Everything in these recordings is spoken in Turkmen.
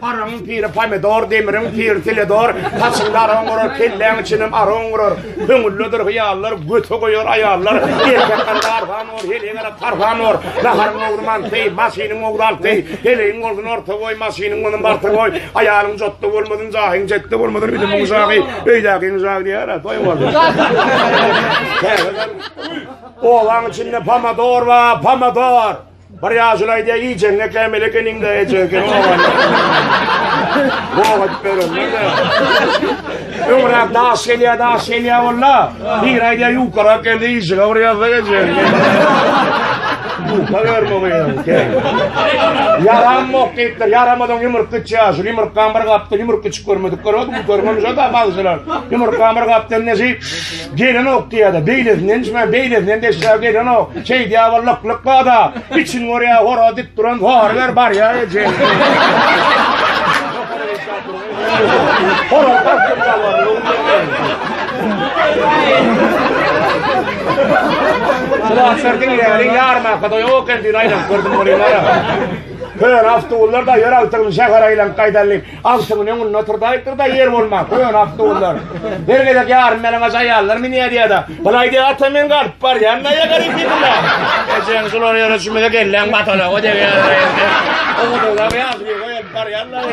Araň piri pomidor, demiriň piri teledor, saçyňda araň gurar, kelläň içinem araň gurar. Köňüllidir hyýallar, göte goýar aýallar. Erkekler darhan ur, heleňere tarhan ur. Naharyň ogly manty, maşynyň ogly alty. Helegiň ogly orta goý, maşynyň ogly barty goý. Aýalyň jotda bolmadyn, jahyň jetde bolmadyn, bilimiň jahy, öýdäkiň jahy diýär, toý boldy. Owaň içinde pomidor bar, pomidor. Bir ýaşuly aýdýar, iýjegiňe kämil ekeniň-dä, eje ekeniň Gowa edip berenler-de. Öňräk daş gelýär, daş gelýär walla. Bir aýdýar, ýukarak geldi, işiňe bir ýazda geçer. Ýuka berme gyýaň. Yaramok diýipdir, yaramadan ýumruk gitýär. Şu ýumrukdan bir gapdy, ýumruk içip görmedik görmedik, görmemiş o da bazşylar. Ýumrukdan bir gapdy, ne Gelenok diýýärdi. Beýlesinden içmän, beýlesinden deşläp gelenok. Şeýdýär bir lyk-lyk bada. Içini görýär, hora dik duran zor ber barýar eje. Hora tartdyp galar. Sulatlar diňleri ýarma kada ýok endi aýlap gördüm bolýar. Hör awtobuslar da ýör awtobusy şäher aýlan gaýdalyp. Agşamyny öňünde oturdaýypdyr-da, ýer bolman, köne awtobuslar. Her gezek ýarym ýalaňaç aýallar münýär diýýär-de, Bulaý diýýär, ata men galyp barýan daýa garik ýerine. Ejeň şular ýere çümese kelläň batalaga degýär. Ogudyňda ýaşuly goýup barýarlar.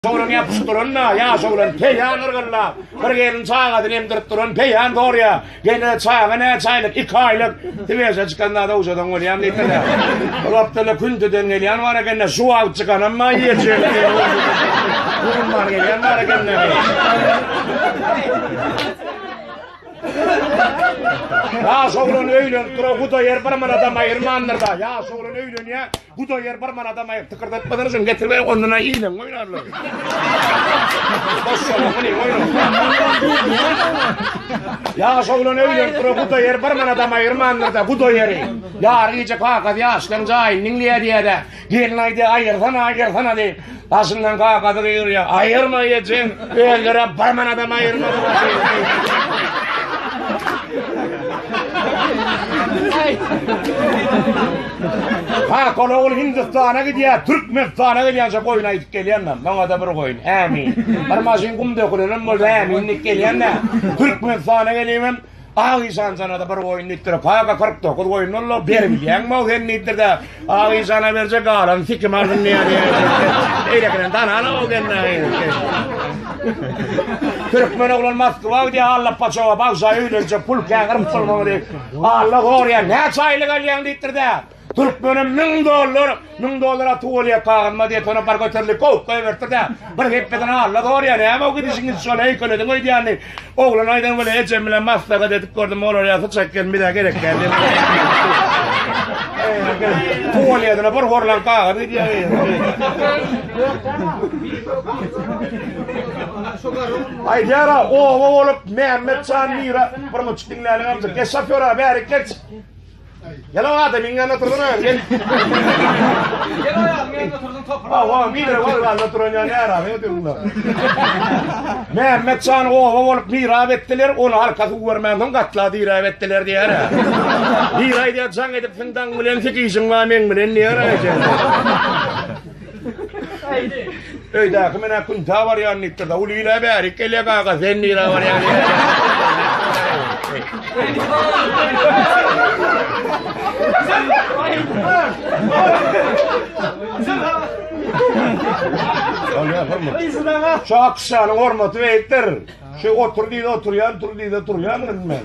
Şolaň ýapyşyp duranyna ýaş oglan peýan yrgyllap, bir gelin çagasyny emdirip duran peýan sorýar, Gelin, çaga näçe aýlyk? Iki aýlyk. Swejä çykanda dowjadan bolýan diýdiler. Ol Abdylla Kündüden gelýän bar eken-de, şu wagt çykanam maý ýeýjek. Gurumdan gelýän bar eken-de. Ýaş oglan öýlenip duran Hudaýer bir manadam aýyrmandyr-da, ýaş oglan öýlenýär, Bu da ýer bir manadam aýyp tykyrdatmadan üçin getirmeýin ondan-a iýleň oýnarlar. Boşşa muny oýnar. Ýaş oglan öýlenip dur bu da ýer bir manadam aýyrmandyr da bu da ýeri. Ýary gije kakasy ýaşlaň jaýyny diňleýär diýýär-de. Gelin aýdy aýyrsana aýyrsana diýip. Başyndan gagazy gyrýar. Aýyrma ejeň, öldürip bir manadam aýyrmadylar. Ha, kol ogul Hindistana gidýär, Türkmenistana gelýänçe goýun aýdyp gelýänler. Maňa-da bir goýun. Ämin. Bir maşyn gum dökülenem bolsa, äminlik gelýänler. Türkmenistana gelýän Ak işan janada bir goýun diýipdir. Paka 49 goýun bollar, beribilýäňmi sen diýipdir-de. Ak işana berje galan sikim alsyn diýýär. Eýlekiden danana o genne. Türkmen oglan Moskwa gidýär, Alla paçawa bagşa öýlenjek pul käňir musulman diýip. Alla gorýar, näçe aýlyk alýaň diýipdir-de. Türkmenim müň dollar, müň dollar atyp bolýar kagyzma diýip ony bar göterdi, kowup goýberdi-de, bir hepdeden Alla sorýar, näme gidişiňiz şol heýkelediň öýdýänini. Oglan aýdan welin ejem bilen maslahat edip gördüm, olar ýa syçak gelin bizä gerek däl diýip. Tuwalýetine bir horlan kagyz gidýär. Aýdýara, oba bolup Mämmetjan Mira bir muçuk diňläliň amjak. Geç şofýora bärik geç. Gel o adam iňňe anlatır bana. Gel. Gel o adam iňňe anlatır topar. Ha o bir de var anlatır onu ne ara ne diyor bunlar. Mehmet Can oba olup bir abi ettiler onu arkası görmem son katla bir abi ettiler diye ara. Bir ay diye can edip sen dan bilen sik işin var men bilen diye ara. Öýdäki men akun ta barýan diýipdir. Ul ile bärik gelýär gaga sen nire barýan. Şu akşanyň hormaty beýikdir. Şu otur diýdi oturýan, tur diýdi turýan men.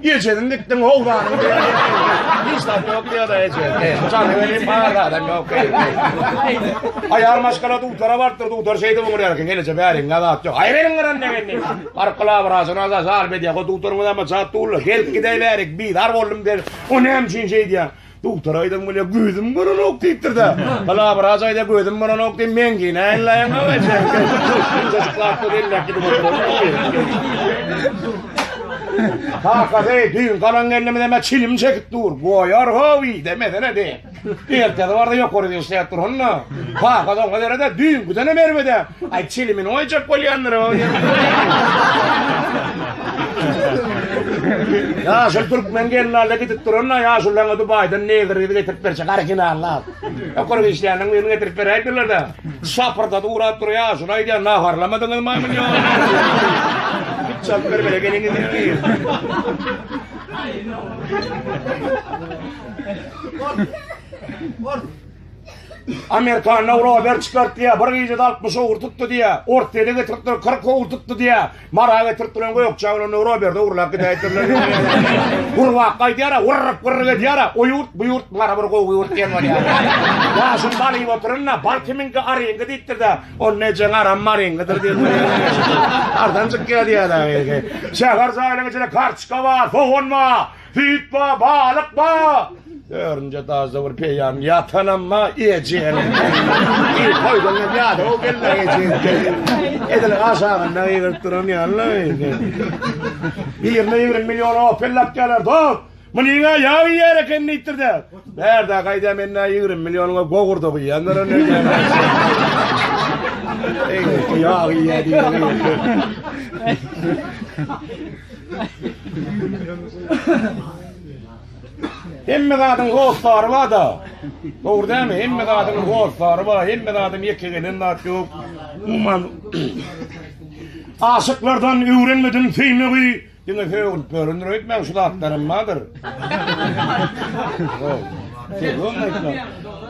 Ejesiň gitdiň howzanyň diýen ýerinde hiç zat ýok diýýär-de eje. Jany welin bar adam ýok. Aýal maşgala dutara barypdyr, dutar şeýdip öňürýär eken, geleje bäriň zat ýok. Aý beriň gyran degeni. Baryp glawraçyna da jaryp edýär. O dutaryňyz hem jat dullar. Gelip gidäýbärik, bizar boldum der. O näme üçin şeýdýär? Dogtar aýdan bolýa gözüm görenok diýipdir-de. Palabraç aýda gözüm görenok diýip men ki näýlaýan gaýy. Çocuklarsa belläki bu. Kaka de düýn galan gelnimize me çilim çekip dur. Goýar howi demesene de. Ertesi barda ýokary işläp dur onda. Papa da oňa berede, düýnküdenem erbede. Ay çilimini oýjak bolýandyr o. Ýaşyl türkmen gelnalle gidip duranda ýaşyl laňa Dubaýdan negr gyzy getirip berjek originallap. Okur işleýäniň birini getirip beräýdiler-de. Şapyrda durap dur ýaşyl aýdýan naharlamadyňyz maýmyn ýok. Çap bir bere geliňiz. Bor. Bor. Amerikan Rober çykart diýä, bir gijede 60 owur tutdy diýä, Orsýede getiripdir 40 owur tutdy diýä, Mara getiripdir gökje bilen Roberde urlap gidäýdirler. Gurbak gaýdýar, gurrup gurrup edýär, o ýurt bu ýurt mara bir gowy ýurt diýen bolýar. Ya şu balyp oturynda bal kiminki aryňky diýipdir-de, on nejeň aram maryňkydyr diýip. Ardanjyk gelýär. Şäher jaýlaryň içinde kartoçka bar, sogan bar. Süýt bar, balyk bar. Örünje daşda bir peýam ýatanam bar, ejeň. Eý, toýdan hem ýada o gelin ejeň. Edil aşagynda ýygyryp duran ýaly. Birine ýigrimi million opel lapýarlar, dost. Munyň aýagy ýer eken diýipdir-de. Bärde gaýda mende ýigrimi millionuňa gogurda guýýandyr indi. Eý, ýag iýýär Hemme zadyň hossary bar-da. Dogry dämi? Hemme zadyň hossary bar, hemme zadyň ýeke gelen zat ýok. Umuman, aşyklardan öwrenmedim söýmegi. Diňe sögülip ýörendir öýtmäň şu zatlaram bardyr.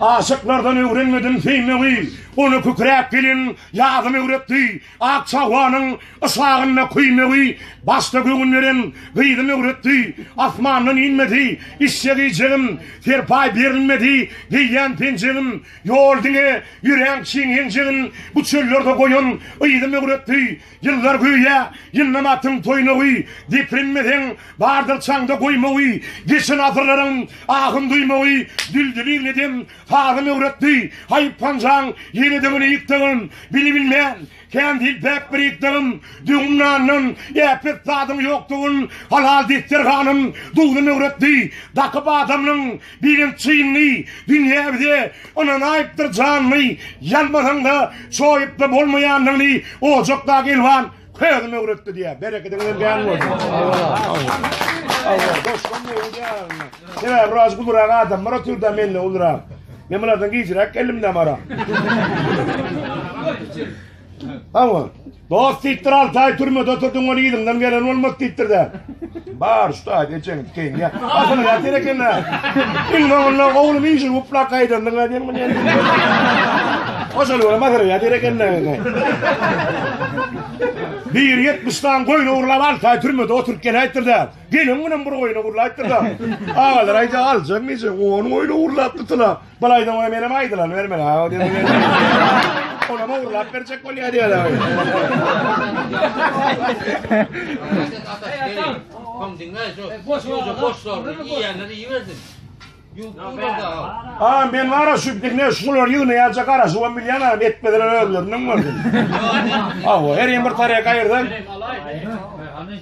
Aşyklardan öwrenmedim söýmegi, Ony kükräp gelin ýazym öwretdi. Ak çawanyň yşagynda küýmegi, Başda göwün beren gyzym öwretdi. Asmandan inmedi işjek-iýjegim, Serpaý berilmedi geýýän penjegim. Ýol diňe ýöräň çiň enjegin, Bu çöllerde goýan yzym öwretdi. Ýyllar göýä ýyllama atyn toýnagy, Depirinmeseň, bardyr çaňda goýmagy, Geçen asyrlaryň ahyn duýmagy, Düldüliň edem sazyn öwretdi. Haýp hanjaň ýeledigini ýykdygym, Bili bilmän, kän dil päk bir ýykdygym, Döwüm nandan äpet zadyň ýokdugyn, Halal desterhanym duzy möwretdi. Dakyp adamlyň Birem çynly dünýä bize ynanaýypdyr janly, Ýalmasaň-da, çoýup-da bolmaýanlygyny Ojakdaky elwan közüm öwretdi diýýär. Berekediňizem kän bolsun. Sebäbi biraz ulurak adamlar oturdy-da menden ulurak. Men bulardan gijiräk geldim-dä mara. Hawa. Dost diýipdir, alty aý türmede oturdyň, ony yzyňdan gelen bolmaz diýipdir-dä. Bar, şu taýda ejeňi dikeýin diýýär. Asyl ýatyr eken-dä. Iň soňunda oglum injil guplap gaýdandyň-a diýen muny indi. Oşony görüp asyl ýatyr eken-dä. Biri ýetmiş dan goýun ogurlap alty aý türmede oturyp geläýipdir-dä. Gelen günem bir goýun ogurlaýypdyr-da. Agalar aýdýar, aljak niçe? On goýun ogurlapdyr-da. Bir aýdan ora menem aýdylan bermeli ha. Ona mı urlap berjek bol ya diyor abi. Kom dinle şu. Boş boş boş sor. Yiyenleri iyi verdin. Aa ben var ya şu dinle şular yığını yalca kara şu on milyon abi etmediler özlerinin var. Aa her yer bir taraya kayırdan.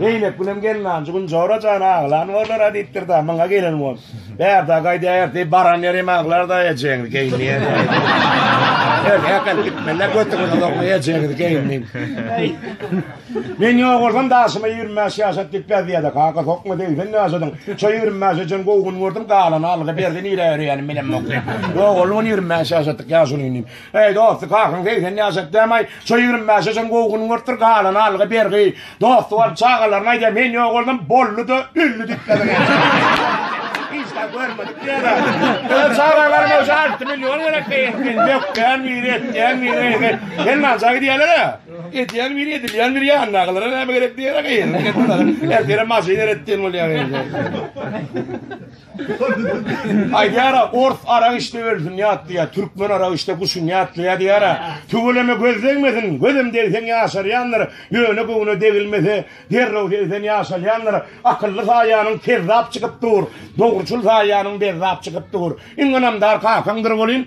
Zeýnepgülem gelnanjy gün Jora jan aglan bollar-a diýipdir-dä, myň-a gelen bol. Bärde gaýdaýarys diýip baran ýeri hem aglar-da ejeňiz geýinýär. Erkekler gitmeliler götüňize sokma ejeňiz geýin diýip. Men ýok bolsam daşyma ýigrimi bäş ýaşat diýip beziýär-de, kaka sokma segsen ýaşadyň. Şo ýigrimi bäş ejen gowy gün gördüm, galany Alla berdi nirä örýänim bilemok diýip. Ýok oglum ýigrimi bäş ýaşatdyk ýaşulyny diýip. Eý dosty kakaň segsen ýaşap dämaý şo ýigrimi bäşe çyn gowy gün görüpdir galany algy bergi dosty bolup çagalaryna aýdýa men ýok boldum bolly da ölli diýip ýazan eken hiç zat görmedik diýerä öz çagalaryma şu alty million gerek beýin men dökýän biri etýän biri sen nanja gidýäler a edýän biri edilýän biri ýandakylara näme gerek diýerä geýin ertire maşyn eretdiýen bolýa Aýdýara ors arak içdi ölsün ýatdy ýa türkmen arak içdi guşun ýatdy ýa diýara tüweleme göz degmesin gözem degseň ýaşarýandyr ýöne göwne degilmese derrew segsen ýaşalýandyr akylly saýanyň kezzap çykyp dur dogruçyl saýanyň bezzap çykyp dur iň ynamdar kakaňdyr welin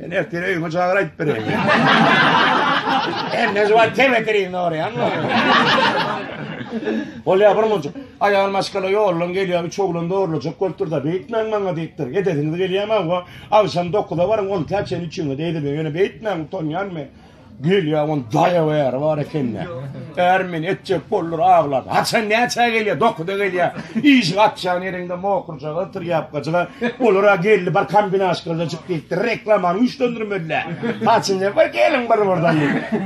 Men ertir öýüme jagyr aýdyp bereýin. Her näze bar tebeterin orýan. Bolýar bir mujuk. Aýal maşgala ýollan gelýär, üç oglan dogurlajak bolupdyr-da, beýtmäň maňa diýipdir. Edesiňiz gelýärmi hawa? Agşam 9-a baryň, 10 täçäni üçiňiz eýlediň. Ýöne beýtmäň, utanýan men. Gelýä on daýaw äri bar ekende. Är men etjek boldur aglap. Haçan näçä gelýä? Dokuda gelýä. Iş gatşan ýerinde mokurjaga otur ýapgaçyga. Olara geldi bir kombinaşkada çyk diýipdir. Reklamany güýçlendirmediler. Haçan bir geliň bir birden.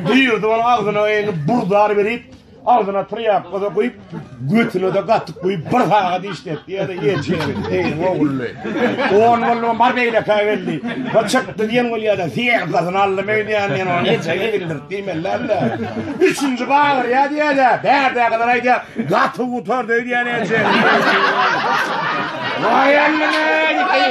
Duýurdy ol agzyna eýni burdar berip. Agzyna trýapka-da guýup, götüne-de gatyk guýup, bir sagat işletdi, ýa-da ýetişeri, eýeň ogully. On boldy, bar beýlekä geldi. Bir çykdy diýen bolýa-da, syýasatyny aldym öýdýän diýen ony neçä gezekdir diýmeli-le. Üçünji bagyrýa diýe-de, bärdäkiler aýdýar, gaty gutardy öýdýän eje. Waý Allam-eý!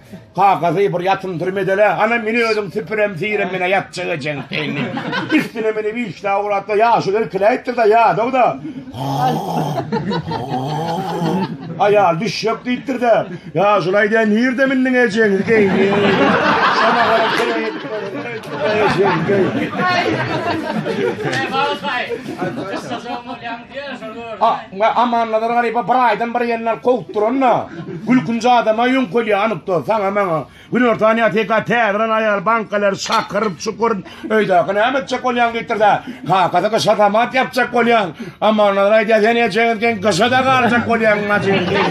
Kakazy bir ýatym türmede-le, ana meni özüň süpürem, siýrem menä ýatjak ejeň peýni. Üstüne meni wiçna ugratma, ýaşuly irkiläýipdir-de, ýadaw-da. Aýal düşjek diýipdir-de, ýaşuly aýdaýan nirde mindiň ejeň geýni. Şoňa görä kereýipdir. Ejeň geýni. Amannazar Garyba bir aýdan bir ýerinden kowup duran-da, gülkünji adama ýöňkelýär anykda, saňa-maňa. Günortan ýa teka täzelen aýal bankalar şakyryp çukuryp, öýdäki näme etjek bolýaň diýipdir-de, kakasy gyşa samat ýapjak bolýan. Amannazar aýdýar, sen ejeňiz geň gyşa-da galjak bolýaň Najibi diýip.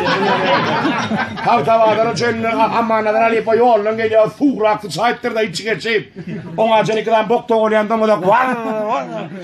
Tagtabazara çenli Amannazar halypa ýoldan gelýär, suwrak syçaýypdyr-da içi geçip, oňa çenli iki sany bok togulýan doňuzak, Waw!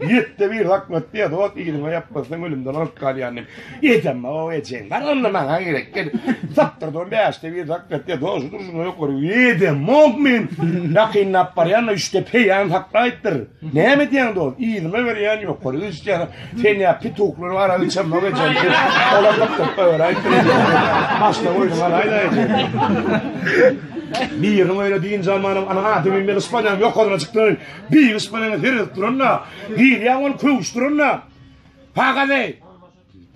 Ýetde bir hakmat diýe dot ýeriňe ýapmasaň ölümden alyp galýan diýip. Ejem o ejem. Bar onda maňa gerek gel. Sapdyr don bäşde bir hakmat diýe dot şudur şuna ýok görüp. Ýedem mok men. Ýakynlap barýan da üçde peýan saklaýypdyr. Näme diýen dot? Ýerime berýän ýok. Görüp üçden sen ýa pituklary ara üçem mok ejem. Olar da köp öwräýip. Başda oýun galaýda ejem. Birini öyle deyin zamanım ana adı bilmeli Ispanyan yok olana çıktı. Biýgiş bilen herez duran-da, girýäň ol köwüş duran-da. Pagady!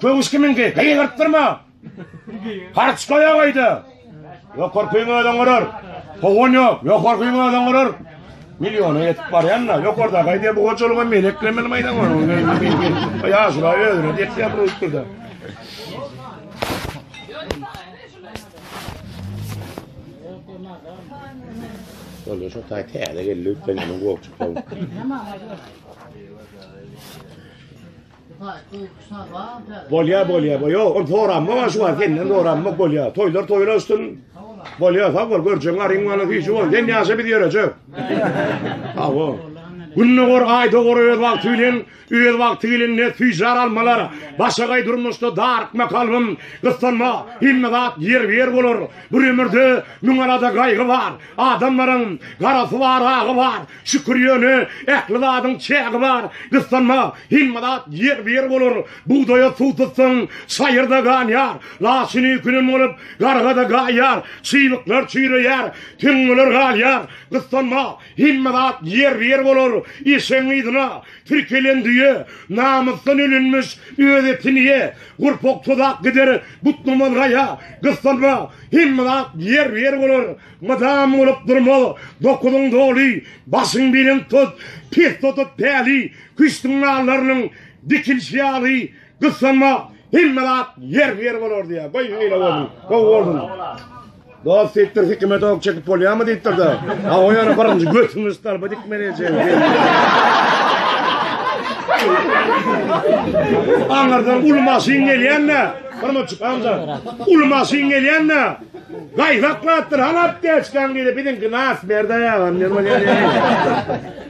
Köwüş kimiňki? Gygyrtdyrma! Harç goýa gaýda! Ýokarkyň özüň gurar. Howan ýok, ýokarkyň özüň gurar. Milliona ýetip barýan-da, ýokarda gaýda bu hojalyga meleklemeli maýdan bar. Ýaşula özüne dek ýapyryp dur-da. Ol şu taý täze geldi ötden ýaman gowup çykdy. Bolýa bolýa bolýa. Ol soranma şu wagt senden soranma bolýa. Toýlar toýlar üstün. Bolýa sag bol görjeň garyň bana hiç bol. Sen ýaşa biz ýörejek. Sag bol. Günde gor, aýda gor öz wagty bilen Öz wagty gelende süýjar almalar, Başagaý durmuşda darykma kalbym, Gyssanma, hemme zat ýerbe-ýer bolar. Bir ömürde müň alada gaýgy bar, Adamlaryň garasy bar, agy bar, Şükür ýöne ähli zadyň çägi bar. Gyssanma, hemme zat ýerbe-ýer bolar. Bugdaýa suw tutsaň, çaýyrda ganýar, Laçyny künem bolup, garga-da gaýýar, Çybyklar çüýreýär, tüňňeler galýar. Gyssanma, Hemme zat ýerbe-ýer bolar. Eşegiň yzyna tirkelen düýe, namysdan ölenmiş, öz etini ýe, gurpak tozak gider, butnamaz gaýa, gyssanma, hemme zat ýerbe-ýer bolar. Mydam bolup durmaz, dokuzyň doly, başyň belent tut, pes tutup päli, küştüň nallarynyň dikilişi ýaly, Gyssanma hemme zat ýerli ýeri bolardy ýa. Goý şeýle bolsun. Gowy bolsun. Dost diýipdir hikmet ok çekip bolýarmy diýipdir de. Ha o ýere birinji götüňi stalba dikmeli ejeň. Aňyrdan uly maşyn gelýände, bir muçuk amca. Uly maşyn gelýände gaýzaklapdyr, halap diýip, biziňki nas berde ýa, men bolýar.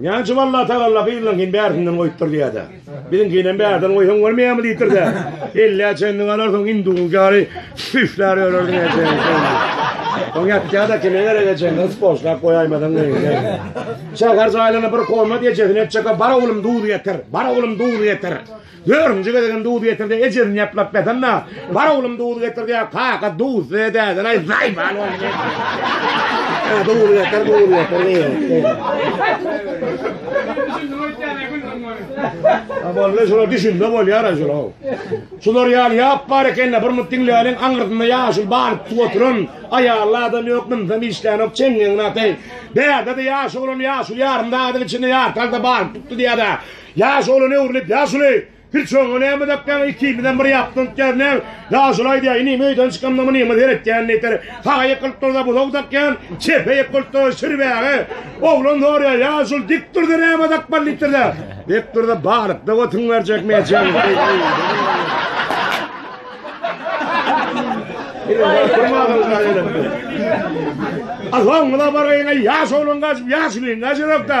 Näçe wagt Allatagalla gyzlaňkyny bärsinden goýupdyr diýýär-dä. Biziňkinem bärden goýsaň bolmaýarmy diýipdir-dä. Ellä çenli galarsyň, hinduňky ýaly süýşlär ýörersiň ejeňi. Oň ýatýa-da kime gerek ejeňi yspoçlap goýaýmasaň geýinýär. Şäher jaýlaryna bir komat ejesini etjek, bar oglum duzy getir, bar oglum duzy getir. Dördünji gezegem duz getir-de, ejesini ýaplap ýatan-da, Bar oglum, duz getir diýýär. Kaka duzsuz-a dädel-aý, zaýbal bolup ýörüň. Duz getir, duz getir diýýär. Boldy, şular düşünse bolýar-a şular. Şular ýaly ýap bar eken-de, bir mugt diňläliň, aňyrsynda ýaşuly balypjyk oturan, aýally adam ýok, mynsam işlänok, çeňňegiňi ataý. Däde-de ýaş oglan, ýaşuly ýarym dagynyň içinde ýartalda balyp tutdy diýýär-de, Ýaş oglan öwrülip, Ýaşuly, hiç oňa näme dakýaň, ikimizem bir ýapdan tutýarys, näme? Ýaşuly aýdýar, Inim, öýden çykamda munyňa seretýän diýseler, saga ýykylyp dursa, buzag dakýan, çepe ýykylyp dursa, şir bäge. Oglan soraýar, Ýaşuly, dik dursa näme dakmaly diýipdirler. Dik dursa, balykda otun berjek meýjegiň. Alhowňyza bargaýyň-aý, ýaş oglan gaçyp, ýaşulyň gaçyrak-da.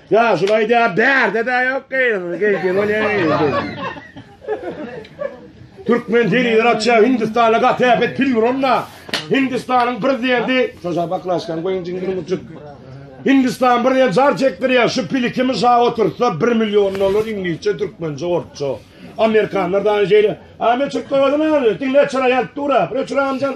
Ya şulay diýä bärde de ýok geýilmeli geýdi bolýa Türkmen telewizor açýa Hindistana gaty äpet film ronna. Hindistanyň prezidenti şoşa baklaşkan goýun jiňdir muçuk. Hindistan bir ýer jar çekdirýär. Şu pili kim şa otursa 1 million dollar iňlisçe, türkmençe, orsça. Amerikanlar da şeýle. Ame çykdygyny aldy. Diňle çyra ýalyp dura. Bir çyra amcan.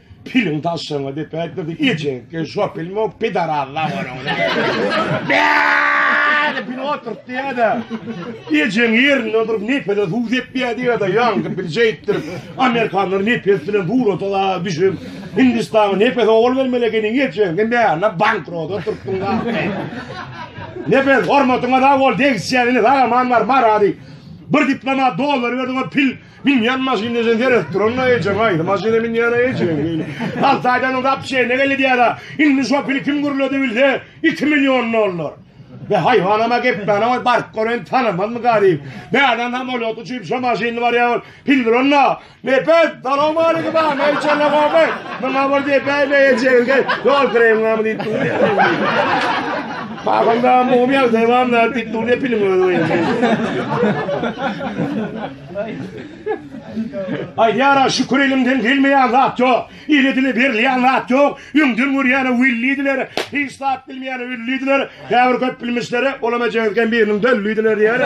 Piliň taşşaňa dep ätmese ejekge şo pilmok pidaraz la onuň. Bäde pil oturyp diýäde. Ejeň ýerinde durup nepede suw dep diýä diýäde ýaňky pil şeýtdir. Amerikanlar nepes bilen surata da düşüp Hindistana nepes owal bermeli ekeniň ejeň hem bäne bankrot oturtdyň la. Nepes hormatyňa sag bol degişýän ine sag aman bar marady. Bir diplomat dollar berdi o pil Binýan maşyn deşen seredip duranda ejeň aýdy maşyna binýana ejeň diýdi. Alty aýdan soň gap çeýne geldi diýýär-ä. Indi şo pili kim gürledi bilse, iki million dollar. Be haýwanam-a gepmäne goý, baryp gören tanamazmyka diýip. Bärden samolýotda uçup şo maşynly barýar ol. Pil duranda, Nepes, salowmaleýkim-a, neýçe logoby? Muňa bir depäýme ejegiň gel. Ýol kireýiňami diýip durýar. Paýhanda mumyýa devam diýip durýar piliň özi. Aýdýara şükür elimden gelmeýän zat ýok. Ile dile berilýän zat ýok. Öňden görýäne welliydiler, hiç zat bilmeýäne öllüdiler. Käbir köp bilmişlere olam ejemizken biriniň döllüdiler diýer.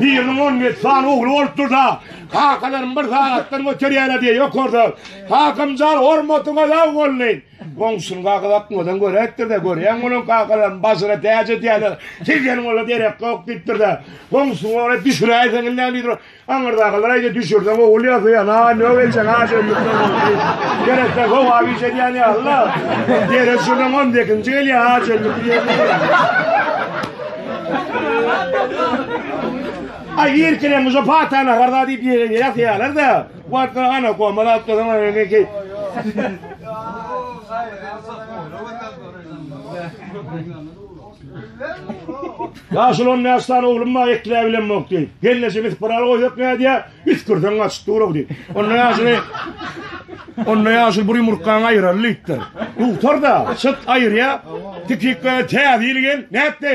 Biriniň on ýedi sany ogly bolupdyr-da, kakalarym bir sagatdan göterýärler diýýär ýokarda. Kakamjan hormatyňa laý boldy. Goňşyny gagyzatmadan göräýipdir-de, görýäňmi onuň kakalaryny bažyra täç edýärler, siz ýene olara derek ýok diýipdir-de, goňşyňy ora düşüräýseň indem diýipdir. Aňyrdakalar aýdýar, düşürseň ogul ýasaýan, a nög edýän, a şeýlelikden boldy. Gerekse sogap iş edýän ýaly-la. Derek düşürseň on sekizinji gelýär, a şeýlelik diýipdir. Aý irkileň şu pata nahar-da diýip ýegenleri ýasaýarlar-da. Wagtdan ana gomal alyp dursaň ony ne ki. Ýaşuly on bäş sany oglum bar, ekläp bilemok diýip. Gelneje bitip bir al goýsak nädýär? Üsgürseň gaçyp dur-ow diýip. Onda ýaşuly Onda ýaşuly bir ýumurtgaňy aýyraly diýipdir. Dugtar-da, çyt aýyrýar. Tikikle täze ýyl gel, nätdi?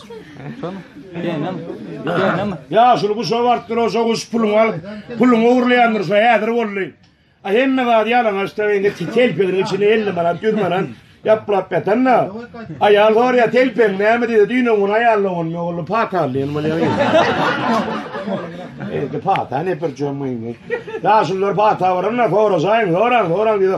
Ýaşuly guşa barypdyr, oja guş puluňy alyp, puluňy ogurlaýandyr, şo häzir boldy. A hemme zady ýalaňaçda indi telpegiň içinde elli manat, ýüz manat ýaplap ýatan-da. Aýal sorýar, telpegiň näme diýdi, düýn gün aýalyň ogluny ogurlap pata aldy ýaly bolýar. Indi pata ne bir jom indi. Ýaşulylar pata baranda soraşaýyň, soraň, soraň diýdi.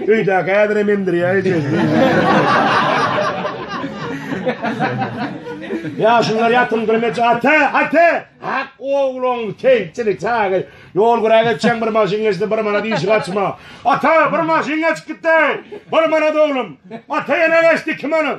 Öýdäki häzirem emdirýär ejesini. Ýaşullar ýatymdyr meç ata, ata! Hak ogluň keýpçilik çagy. Ýol güräp geçen bir maşyn geçdi, bir manat işi gaçma. Ata, bir maşyn geçip gitdi. Bir manat oglum. Ata ýene geçdi, iki manat.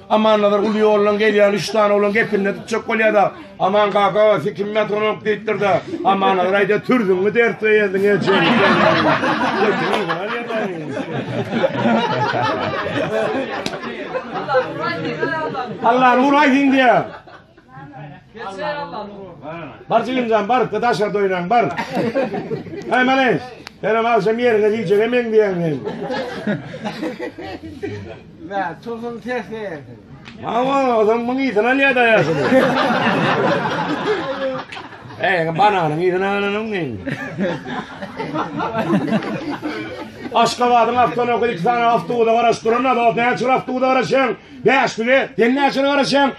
Amannazar uly ýoldan gelýän üç sany oglan gepinde tutjak bolýar-da, Aman kaka, siz kim ýatanok diýipdir-de, Amannazar aýdýar, Türzüňňi dert beýendiň ejeň. Allah nur aýdýar. Bar jigimjan bar, daşa doýlan bar. Aý menen, senem agşam ýeriňe diýjege men diýen men. Mä, tohum ses geldi. Mawa, adam muň ýetin alýa da ýaşy. Ey, bananyň ýetin alanyň men. Aşgabadyň awtony okyp, iki sany awtony garaşdyran, awtony çyraw tuwda garaşan, bäşlige, sen näçe garaşan?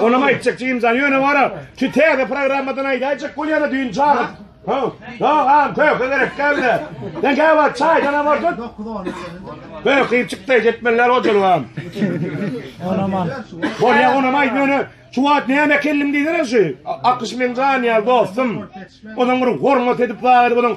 Olam aýtjak Jimjan ýöne wara. Şu täze programmadan aýdaýjak bolýana düýn çagyp. Ha. Ýok, am köke gerek geldi. Sen gäwä çaýdan am ordan. Köke çykdy jetmeller ojalgam. Olam al. Bolýa onam aýt ýöne şu wagt näme kellim diýsene şu. Akyş men jan ýa dostum. Onuň bir hormat edip wagt onuň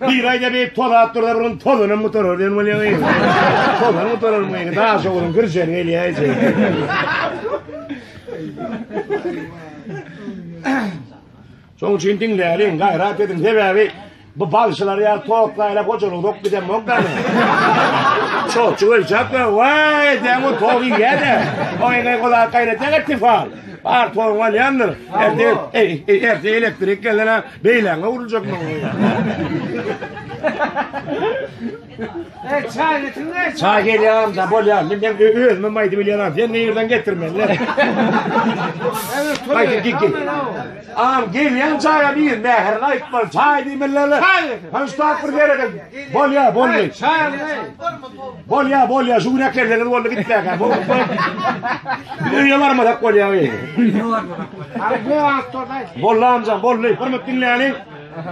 Bir aýda beýik tozap durda bir gün tozanam gutarar diýen bolýaňy. Tozan gutarar bu ýene daş ogluň girjen gelýär. Şoň üçin diňläliň, gaýrat ediň. Sebäbi bu balşylar ýa toklaýla hojalyk dok giden bolsa. Çoçu ölçäp, "Waý, sen o togy ýa-da, o ýene gola gaýrat etdi fal." Bar togy ýandyr. Erdi, erdi elektrik gelene. Beýläňe urulacak maňa. E, çay getirme. Çay gelýäm da bolýar. Men hem özüme maýdy bilýärin. Sen nereden getirmen? Lan. Maýdy git git. Am gelýän çaýa bir mähir aýtmaly. Çay diýmeler. Çay. Hanştap bir ýere gel. Bolýar, bolýar. Çay. Bolýa bolýa şu gün äklerseňiz boldy gitmäkä. Bu Biz öýe barmasak bolýa. Boldy amjan boldy. Bir minut diňläliň.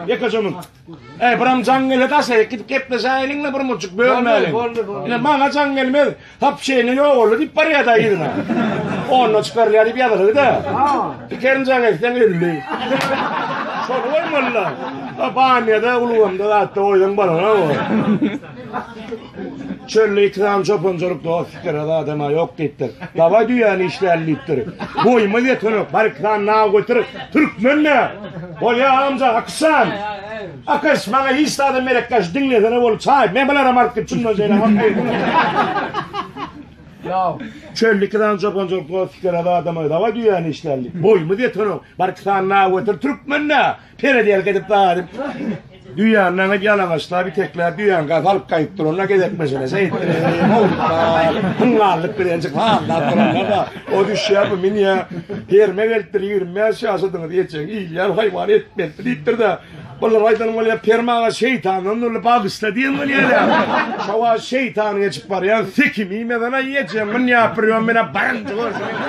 Ýekejemiň. Eý biram jaň gele daşaýyk gidip gepleşäýeliň we bir muçuk bölmäliň. Ine maňa jaň gelmez. Hap şeýne ýok oldy diýip barýar da ýerine. Onda çykarýar diýip ýazylgy da. Pikerin jaň etseň öldi. Şol goýmalylar. Banyýada, ulgamda, atda oýdan balara. Çölde ýiti galan çopanjylyk dost pikir az adama ýok diýipdir. Dawaý düýäni işläli diýipdir. Boýumyz ýetenok, barik san naw göter, türkmen nä? Bolýa amja Akyşjan. Akyş, maňa hiç zada merek ýaş, diňlesene bolup çaý, men bularam alyp git, şundan şeýle hak. Naw. Çölde ýiti galan çopanjylyk dost pikir az adama dawaý düýäni işläli. Boýumyz ýetenok, barik san naw göter, türkmen nä? Perediýelik edip daýadyp, düýäni naňyp ýalaňaçlap, itekläp, düýäni gaýyp alyp gaýyp duranda gezek meselesi etdirip, howluklar, hyňňallyk bilenjik sazlap duranda-da, o düşýär, bu münýär, ferme gelipdir, ýigrimi bäş ýaşadyňyz, ejeň ilýär, haýwan et berdi diýipdir-de, bulara aýdanym bolýar, Peri aga şeýtandan dürli bagyşla diýenim bolýar-a. Şo wagt şeýtan geçip barýan, sikim iýmesen-ä ejeň münýär, bir ýom menä barynja görsün.